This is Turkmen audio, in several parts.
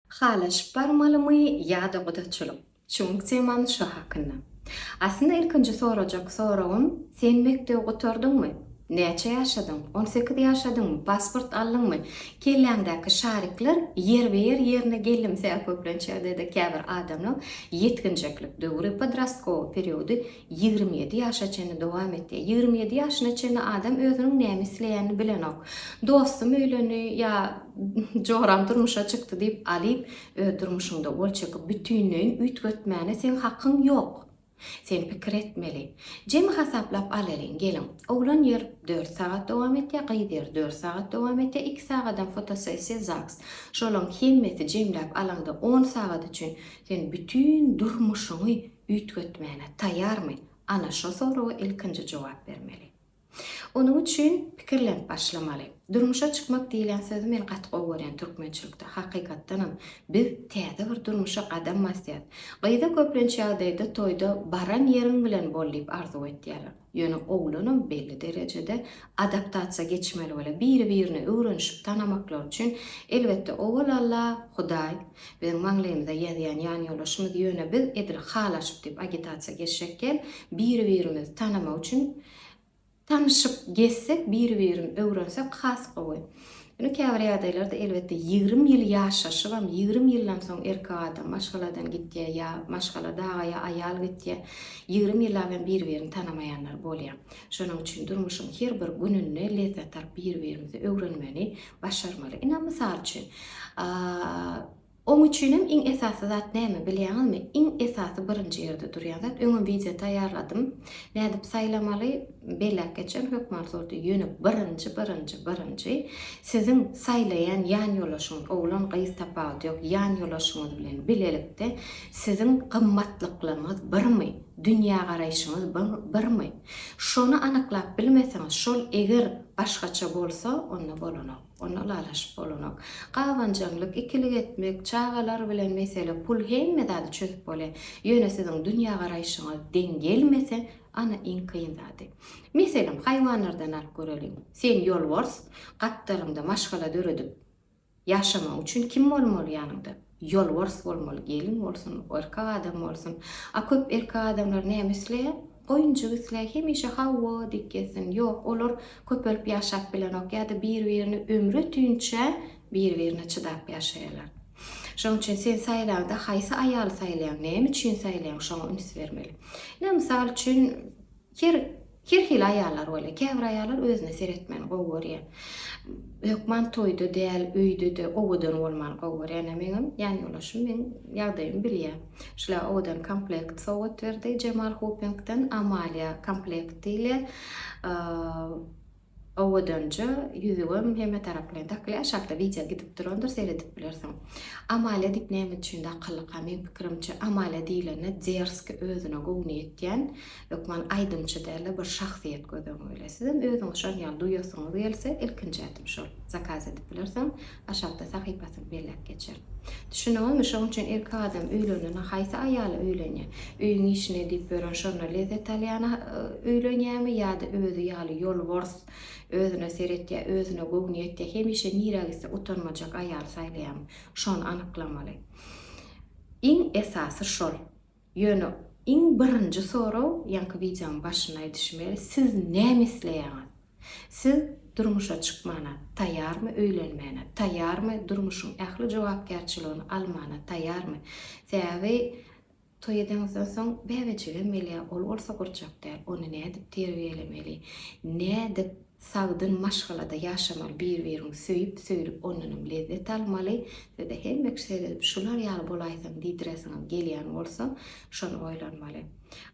Halaşyp barmalymy ýa-da gudaçylyk? Çuň temany şo hakynda. Aslynda ilkinji sorajak soragym, sen mekdebi gutardyňmy? Näçe ýaşadyň? On sekiz ýaşadyňmy? Pasport aldyňmy? Kelläňdäki şarikler ýerbe-ýer ýerine gelimsä köplenç ýagdaýda käbir adamlaň ýetginjeklik döwri, podrastkowy periody, Ýigrimi ýedi ýaşa çenli dowam etýär. Ýigrimi ýedi ýaşyna çenli adam özüniň näme isleýänini bilenok. Dostum öýlendi ýa joram durmuşa çykdy diýip Alyp öz durmuşyňda gol çekip bütinleýin üýtgetmäne seň hakyň ýok. Sen pikir etmeli. Jemi hasaplap alalyň geliň. Oglan ýer dört sagat dowam etýär, gyz ýer dört sagat dowam etýär, iki sagadam fotosessiýa zaks. Şolaň hemmesi jemläp alaňda on sagat üçin sen bütin durmuşyňy üýtgetmäne taýýarmy? Ana, şo soraga ilkinji jogap bermeli. Onuň üçin pikirlenip başlamaly. Durmuşa çykmak diýlen sözi men gaty gowy görýän türkmençilikde. Hakykatdanam, biz täze bir durmuşa gadam basýas. Gyza köplenç ýagdaýda toýda baran ýeriň bilen bol diýip arzuw etýärler. Ýöne oglanam belli derejede adaptasiýa geçmeli bolýar. Biri-birini öwrenişip tanamaklary üçin, elbetde, owal Alla, Hudaý, biziň maňlaýymyza ýazýan ýanýoldaşymyz, ýöne biz edil halaşyp diýip agitasiýa geçjek däl, biri-birimizi tanamak üçin tanyşyp gezsek, biri-birini öwrensek has gowy. Ýöne käbir ýagdaýlarda, elbetde, ýigrimi ýyl ýaşaşybam, ýigrimi ýyldan soň erkek adam maşgaladan gitýär ýa maşgala dagaýa aýal gitýär. Ýigrimi ýyllap hem bir-birini tanamaýanlar bolýar. Şonuň üçin durmuşyň her bir gününde lezzet alyp bir-birimizi öwrenmegi başarmaly. Ine, mysal üçin, Oň üçinem iň esasy zat näme bilýäňizmi? Iň esasy birinji ýerde durýan zat, öňem wideo taýýarladym. Nädip saýlamaly? Belläp geçen hökman zordy. Ýöne birinji, birinji, birinji siziň saýlaýan ýanýoldaşyňyz, oglan, gyz tapawudy ýok, ýanýolaşyňyz bilen bilelikde siziň gymmatlyklaryňyz birmi? Dünýägaraýşyňyz birmi? Şony anyklap bilmeseňiz, şol eger başgaça bolsa, onda bolanok. Onda ylalaşyp bolanok. Gabanjaňlyk, ikilik etmek, çagalar bilen mesele, pul hemme zady çözüp bolýar. Ýöne siziň dünýägaraýşyňyz deň gelmese, ana iň kyn zady. Meselem, haýwanlardan alyp göreliň. Sen ýolbars, gapdalyňda maşgala döredip ýaşamagyň üçin kim bolmaly ýanyňda? Ýolbars bolmaly gelin bolsun, erkek adam bolsun. A köp erkek adamlar näme isleýär? Goýunjyk isleýär, hemişe hawa diýip gezsin. Ýok, olar köpelip ýaşap bilenok ýa-da bir-birini ömri ötünçä bir-birine çydap ýaşaýarlar. Şonuň üçin sen saýlaňda haýsy aýaly saýlaýaň, näme üçin saýlaýaň, şoňa üns bermeli. Ine, mysal üçin, Her her hili aýallar bolýar. Käbir aýallar özüne seretmän gowy görýär. Hökman toýda däl, öýde-de owadan bolmany gowy görýär. Ýöne meňem ýan ýoldaşym meň ýagdaýymy bilýär. Şular owadan komplekt sowgat berdi Jemal Hopingden, Amalia komplekt diýilýär. Owadanja ýüzügem hemme tarap bilen dakly aşakda wideo gidip durandyr seredip bilersiň. Amalia diýip näme üçin dakyldyka meň pikirimçe Amalia diýlende derski özüne gowny ýetýän hökman aýdymçy dälde bir şahsyýet göz öňüňe gelýär. Sizem özüňiz şon ýaly duýasyňyz gelse ilkinji ädim şol zakaz edip bilersiň. Aşakda sahypasyny belläp geçer. Düşüniňizmi, şoň üçin erkek adam öýlenende haýsy aýala öýlenýär? Öýüň işini edip ýören, şonda lezzet alýana öýlenýärmi ýa-da özi ýaly ýolbors, özüne seretýär, özüne göwni ýetýär, hemişe nirä gitse utanmajak aýaly saýlaýarmy? Şony anyklamaly. Iň esasy şol. Ýöne iň birinji sorag ýaňky wideoň başynda aýdyşym ýaly siz näme isleýäňiz? Siz durmuşa çykmana taýýarmy öýlenmäne taýýarmy durmuşyň ähli jogapkärçiligini almana taýýarmy? Sebäbi toý edeňizden soň bäbejigem gelýär ol bolsa gurjak däl ony nädip terbiýelemeli nädip Sagdyn maşgalada ýaşamaly bir-biriňi söýüp söýlüp ondanam lezzet almaly, size hemme kişi seredip şular ýaly bolaýsaň diýdiresiňiz gelýän bolsa şony oýlanmaly.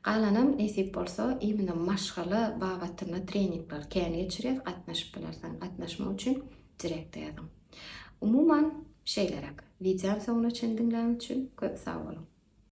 Galanam nesip bolsa imina maşgala babatynda treningler kän geçirýäs gatnaşyp bilersiň gatnaşmak üçin direkte ýazyň. Umuman şeýleräk. Wideony soňuna çendiňläň üçin köp sag boluň.